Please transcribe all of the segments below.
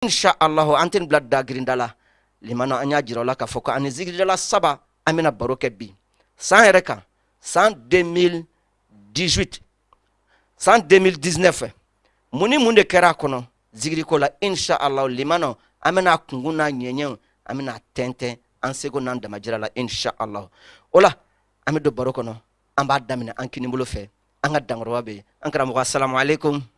insha Allahu an tɛna bila da grinda la limana an y'a jira aw la k'a fɔ ko an ni zikiridala saba an bɛna baro kɛ bi san yɛrɛ kan san 2018 san 2019 mun ni mun de kɛra a kɔnɔ zikiriko la insha Allahu limana an bɛna kunkun n'a ɲɛɲɛw an bɛna tɛntɛn an seko n'an damajira la insha Allahu o la an bɛ don baro kɔnɔ an b'a daminɛ an kinibolo fɛ an ka dankɔrɔba bɛ yen an karamɔgɔ asalamu aleykum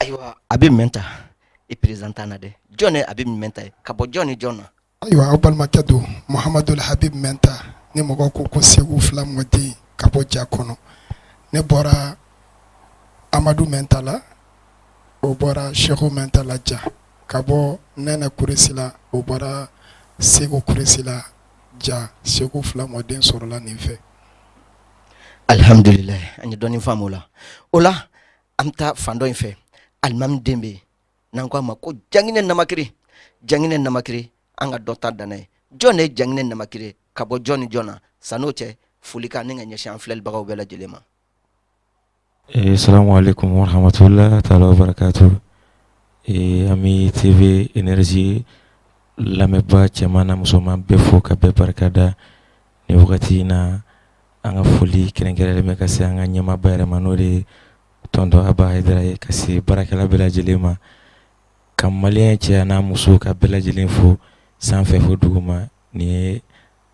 ayiwa habib mɛnta i perezante an na dɛ jɔn ye habib mɛnta ye ka bɔ jɔn ni jɔn na ayiwa aw balimakɛ don muhamadul habib mɛnta ni mɔgɔ ko ko seku fila mɔden ka bɔ ja kɔnɔ ne bɔra amadu mɛnta la o bɔra seku mɛnta la ja ka bɔ nɛnɛ kuresi la o bɔra seku kuresi la ja seku fila mɔden sɔrɔla nin fɛ alihamdulila an ye dɔɔni faamu o la o la an bɛ taa fan dɔ in fɛ alimami den bɛ yen n'an k'a ma ko janginɛ namakiri janginɛ namakiri an ka dɔ ta danna ye jɔn de ye janginɛ namakiri ye ka bɔ jɔn ni jɔn na san'o cɛ folikan ni ka ɲɛsin an filɛlibagaw bɛɛ lajɛlen ma. Eh, salamu alaikum warahmatullahi taala wabarakatuh eh, an bɛ TV énergie lamɛnbaa cɛman n'a musoman bɛɛ fo ka bɛɛ barikada. ni wagati in na an ka foli kɛrɛnkɛrɛnlen bɛ ka se an ka ɲɛmaaba yɛrɛ ma n'o de tɔntɔn aba hayidara ye ka se baarakɛla bɛɛ lajɛlen ma ka maliyɛn cɛ a n'a muso ka bɛɛ lajɛlen fo sanfɛ fo duguma nin ye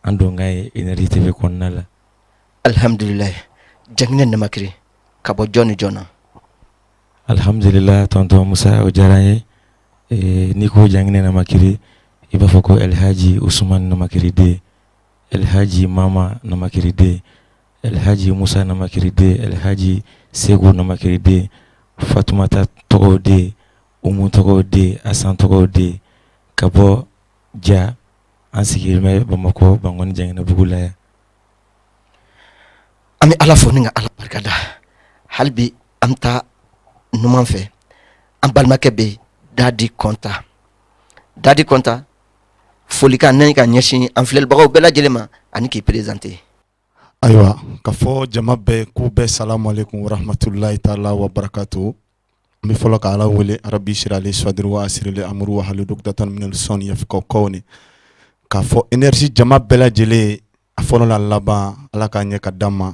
an donkan ye Énergie TV kɔnɔna la alihamdulila janginɛ namakiri ka bɔ jɔn ni jɔn na alihamdulila tɔntɔn musa o diyara n ye n'i ko janginɛ namakiri i b'a fɔ ko alihaji usuman namakiri den Elhadji Mama Namakiri den Elhadji Moussa Namakiri den Elhadji Seku Namakiri den Fatoumata Togo den Oumou Togo den Assane Togo den ka bɔ Dja an sigilen bɛ Bamakɔ Bankɔni Janginɛbugu la yan an bɛ Ala fo ni ka Ala barikada hali bi an bɛ taa numan fɛ an balimakɛ bɛ yen Dadi Kɔnta Dadi Kɔnta Folikan ni ka ɲɛsin an filɛlibagaw bɛɛ lajɛlen ma ani k'i présenter ayiwa ka fɔ jama bɛɛ k'u bɛɛ salamu aleyikum waramatulayi taala wa barakatu n bɛ fɔlɔ k' ala wele arabi sirali sɔdiri wa asirili amuru wa hali dukdatan minal sɔni yafikaw kawni k'a fɔ Énergie jama bɛɛ lajɛlen a fɔlɔ la laban ala k'a ɲɛ ka d'an ma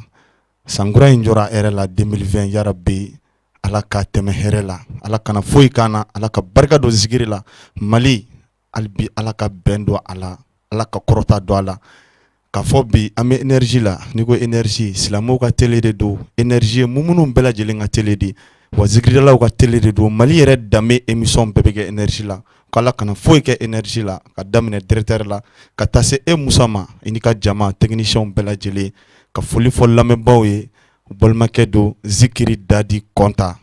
sankura in jɔra hɛrɛ la 2020 yarabi ala ka tɛmɛ hɛrɛ la ala kana foyi k'an na ala ka barika don zikiri la mali hali bi ala ka bɛn don a la ala ka kɔrɔta don a la k'a fɔ bi an bɛ Énergie la n'i ko Énergie silamɛw ka tele de don Énergie ye mun minnu bɛɛ lajɛlen ka tele de wa zikiridalaw ka tele de don mali yɛrɛ danbe émission bɛɛ bɛ kɛ Énergie la K' ala kana foyi kɛ Énergie la ka daminɛ directeur la ka taa se e musa ma i ni ka jama tekinisiyɛnw bɛɛ lajɛlen ka foli fɔ lamɛnbaaw ye balimakɛ don zikiri dadi kɔnta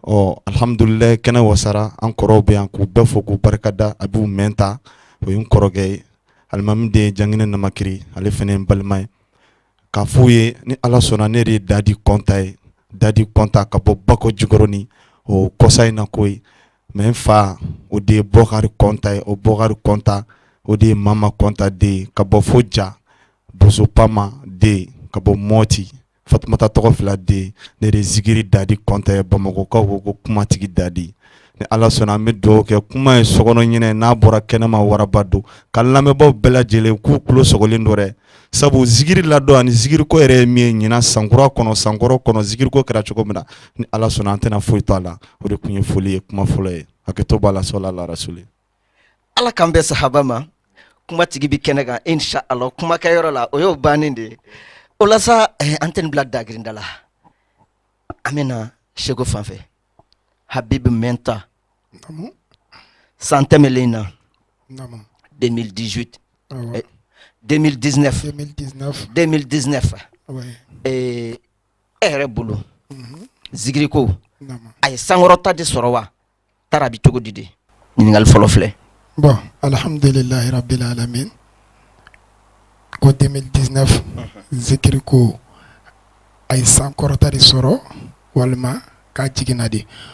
ɔ alihamdulilayi kɛnɛ wasara an kɔrɔw bɛ yan k'u bɛɛ fo k'u barikada abibu mɛnta o ye n kɔrɔkɛ ye alimami den ye janginɛ namakiri ale fana ye n balima ye k'a f'u ye ni ala sɔnna ne de ye dadi kɔnta ye dadi kɔnta ka bɔ bako jikɔrɔni o kɔsa in na ko mɛ n fa o de ye bɔkari kɔnta ye o bɔkari kɔnta o de ye mama kɔnta den ye ka bɔ fo ja boso pama den ka bɔ mɔti fatumata tɔgɔ fila den ne de zikiri dadi kɔnta ye bamakɔkaw ko ko kumatigi dadi ni ala sɔnna an bɛ dugawu kɛ kuma ye sokɔnɔ ɲinɛ n'a bɔra kɛnɛma waraba don ka lamɛnbaaw bɛɛ lajɛlen k'u tulo sɔgɔlen don dɛ sabu zikiri ladon ani zikiriko yɛrɛ ye min ye ɲinan sankura kɔnɔ sankɔrɔ kɔnɔ zikiriko kɛra cogo min na ni ala sɔnna an tɛna foyi to a la o de tun ye foli ye kuma fɔlɔ ye hakɛto b'a la sɔla la rasuli ala k'an bɛn sahaba ma kumatigi bɛ kɛnɛ kan insha allah kumakɛyɔrɔ la o y'o bannen de ye o la sa eh, an tɛna bila dagirinda la an bɛna seko fanfɛ habibu mɛnta san tɛmɛlen na 2018 2019 2019 e yɛrɛ bolo mhm. zikiri ko a ye sankɔrɔta de sɔrɔ wa taara bi cogo di de ɲininkali fɔlɔ filɛ bɔn alihamdulilayi rabili alamin ko 2019 mhm. zikiri ko a ye sankɔrɔta de sɔrɔ walima k'a jiginna de